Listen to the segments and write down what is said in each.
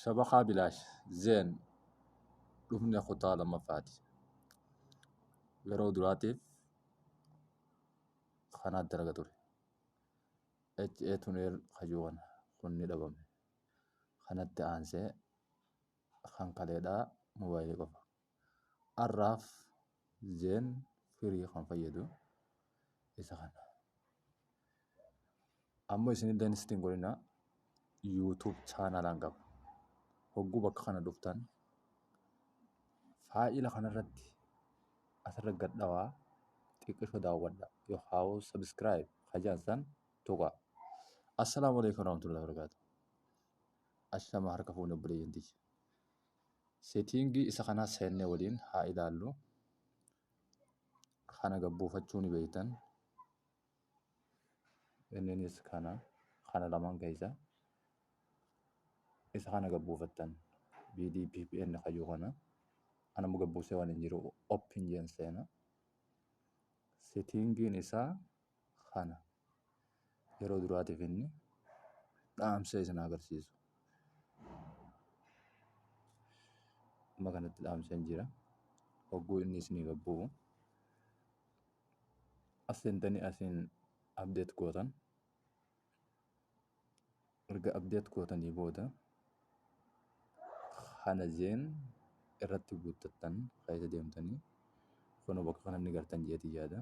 Shabakaa bilaash zeen dhufne kutaa lammaffaati. Yeroo duraatiif kanaa dalaga ture. HA tuneel kajuu kana kun ni dhabame. Kanatti aansee kan kaleedhaa moobaayilii qofa. Arraaf zeen firii kan fayyadu isa kana. Amma isin illee sitti hin godhina YouTube chaanalaan qaba. Hogguu bakka kana dhuftan faayila kanarratti asirra gad dhawaa xiqqisho daawwadha. Yoo haawuu sabiskiraayib hajaan san tuqaa. Assalaamu alaikum warahmatullahi wabarakatuh. Ashama harka fuunee obboleeyyan tiyya. Setting isa kanas seenne waliin haa ilaallu. Kana gabbuufachuu ni beektan. Inninis kana kana lamaan keessa isa kana gabbuufattan BDPPN kayyuu kana anammoo gabbuusee waan hin jiru open jeen seena. Settingiin isaa kana yeroo duraatiif inni dhaamsa isin agarsiisu. Amma kanatti dhaamseen jira. Hogguu inni isiniif abbu'u. As seentanii asiin abdeet gootan. erga update gootanii booda kana zeen irratti guuttattan keessa deemtanii kun bakka kana ni gartan jeeti yaada.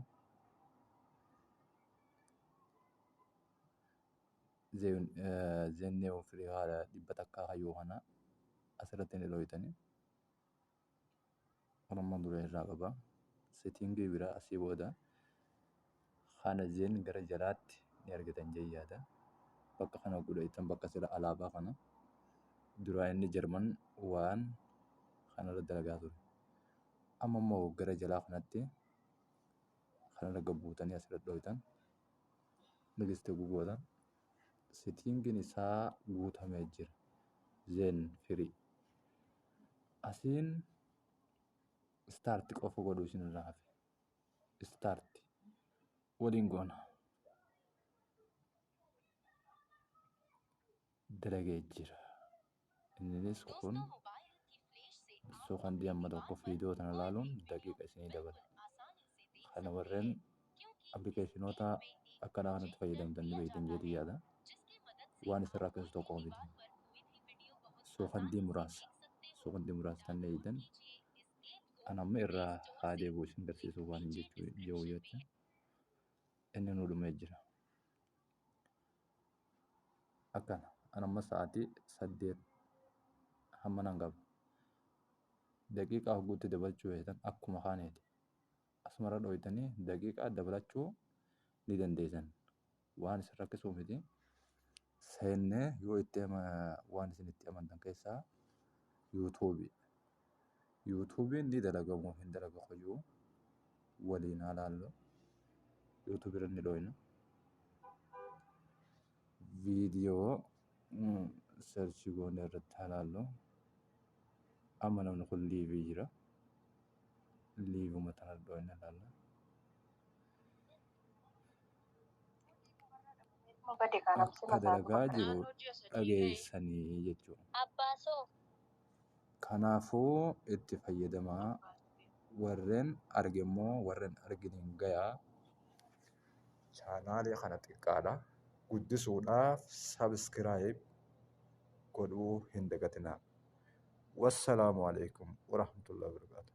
Zeen neewoo firii haala dhibba takkaa hayyuu kana asirratti ni dhooytanii. armaan dura irraa qaba. Settingii biraa asii booda kana jeen gara jalaatti ni argitan jee yaada. Bakka kana godha jettan bakka sila alaabaa kana duraa inni Jarman waan kanarra dalagaa ture. Amma immoo gara jalaa kanatti kanarra gad buutanii asirra dhooytan next goota. Setting isaa guutame jira. Zen free. Asiin start qofa godhu isin irraa hafe. Start. Waliin goona. Dalagee jira. Inninis kun so kan diamma tokko fiidoo tana laaluun daqiiqa isinii dabala. Kana warreen appilikeeshinoota akkanaa kanatti fayyadamtan ni beektan jeetii yaada. Waan isin rakkisu tokko miti. Sookandii muraasa. Sookandii muraasa tan eeydan. An amma irraa haa deebi'u isin garsiisuuf waan hin jechuu yoo jecha. Inni nu dhumee jira. akkana an amma sa'aatii saddeet hamma nan qaba daqiiqaa hogguutti dabalchuu feetan akkuma kaaneeti asumarra dhooytanii daqiiqaa dabalachuu ni dandeessan waan isin rakkisuu miti seennee yoo itti waan isin itti amantan keessaa yuutuubii Yuutuubiin ni dalaga moo hin dalaga qoyyuu waliin haa laallu. Yuutuubii irra ni dhooyna. Viidiyoo seerchii goonee irratti haa laallu. Amma namni kun liivii jira. Liivuma tana dhooyna laalla. Akka dalagaa jiru dhageessanii jechuudha. Kanaafuu itti fayyadamaa warren arge immoo warren arginiin gayaa. Chaanaalii kana xiqqaadha. Guddisuudhaaf sabiskiraayib godhuu hin dagatinaa. Wassalaamu alaikum warahmatullahi wabarakatuh.